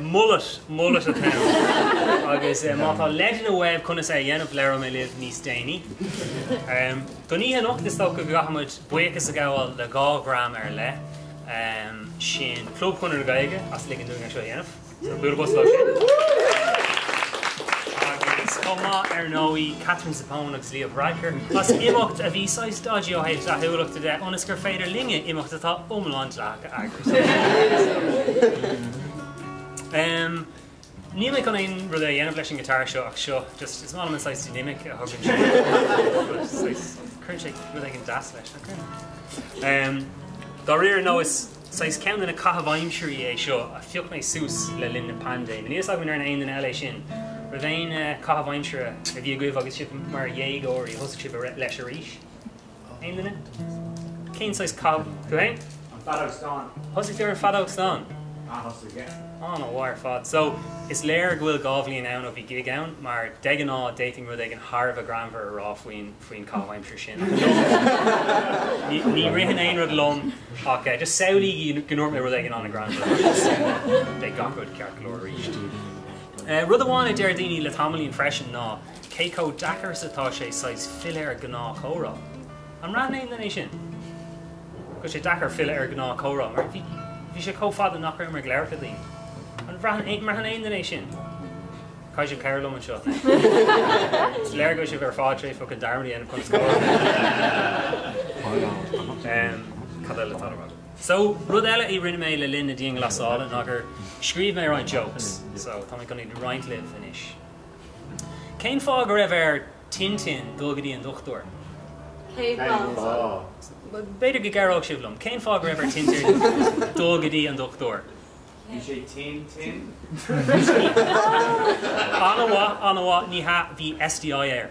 Mullet, mullet atá ann. Agus má tá leideanna uaibh conas é a dhéanamh, labhróidh mé libh níos déanaí. Don oíche anocht, is dócha go gcaithfimid buíochas a ghabháil le dhá dhream ar leith, sin Club Chonradh na Gaeilge as ligean dúinn é seo a dhéanamh, bualadh bos leo sin, agus chomh maith, ar ndóigh, Katherine Zappone agus Leo Varadkar as imeacht a bhí saghas dodgy ó thaobh dleathúlachta de, ionas gur féidir linne imeacht atá iomlán dleathach a. Níl mé chun aon rud a dhéanamh leis an ngiotár seo ach seo. Just, is maith liom an saghas dynamic a thugann sé. But saghas, cuireann sé rud éigin deas leis, nach cuireann? Dá réir ar ndóigh, is saghas ceann de na caitheamh aimsirí é seo a phioc mé suas le linn na paindéime. Níl fhios agam an ndearna aon duine eile é sin. An raibh aon caitheamh aimsire a bhí agaibh agus sibh mar dhéagóirí, a thosaigh sibh leis arís? Aon duine? Cén saghas caitheamh, tú fhéin? An feadóg stáin. Thosaigh tú ar an feadóg stáin? A thosaigh, yeah. Á, an-mhaith ar fad. So, is léir go bhfuil dhá bhliain ann ó bhí gig ann, mar de ghnáth d'fhéadfainn rud éigin thar a bheith greannmhar a rá faoin, faoin chaitheamh aimsire sin, ach ní, ní, ní ritheann aon rud liom ach, eh, just samhlaígí go ndúirt mé rud éigin an-ghreannmhar agus beidh gach rud ceart go leor arís. Eh, rud amháin a deir daoine le tamaillín freisin ná. Cé chomh deacair is atá sé saghas filleadh ar ghnáthchomhrá? An mbraitheann éinne é sin go bhfuil sé deacair filleadh ar ghnáthchomhrá mar bhí bhí sé chomh fada nach raibh mé ag labhairt le daoine? An mbraitheann aon duine é sin? Caithfidh sibh cabhrú liom anseo. Is léir go bhfuil sibh ar fad tar éis focan dearmad a dhéanamh conas gáire. Em, cad eile atá le rá? So, rud eile a rinne mé le linn na dianghlasála ná gur scríobh mé roinnt jokes. So, tá mé chun iad a roinnt libh anois. Cén fáth go raibh ar Tintin dul go dtí an dochtúir? Cén fáth? B'fhéidir go gcabhródh sibh liom. Cén fáth go raibh ar Tintin dul go dtí an dochtúir? Bhí sé tinn tinn. An-mhaith, an-mhaith, ní hea, bhí STI air.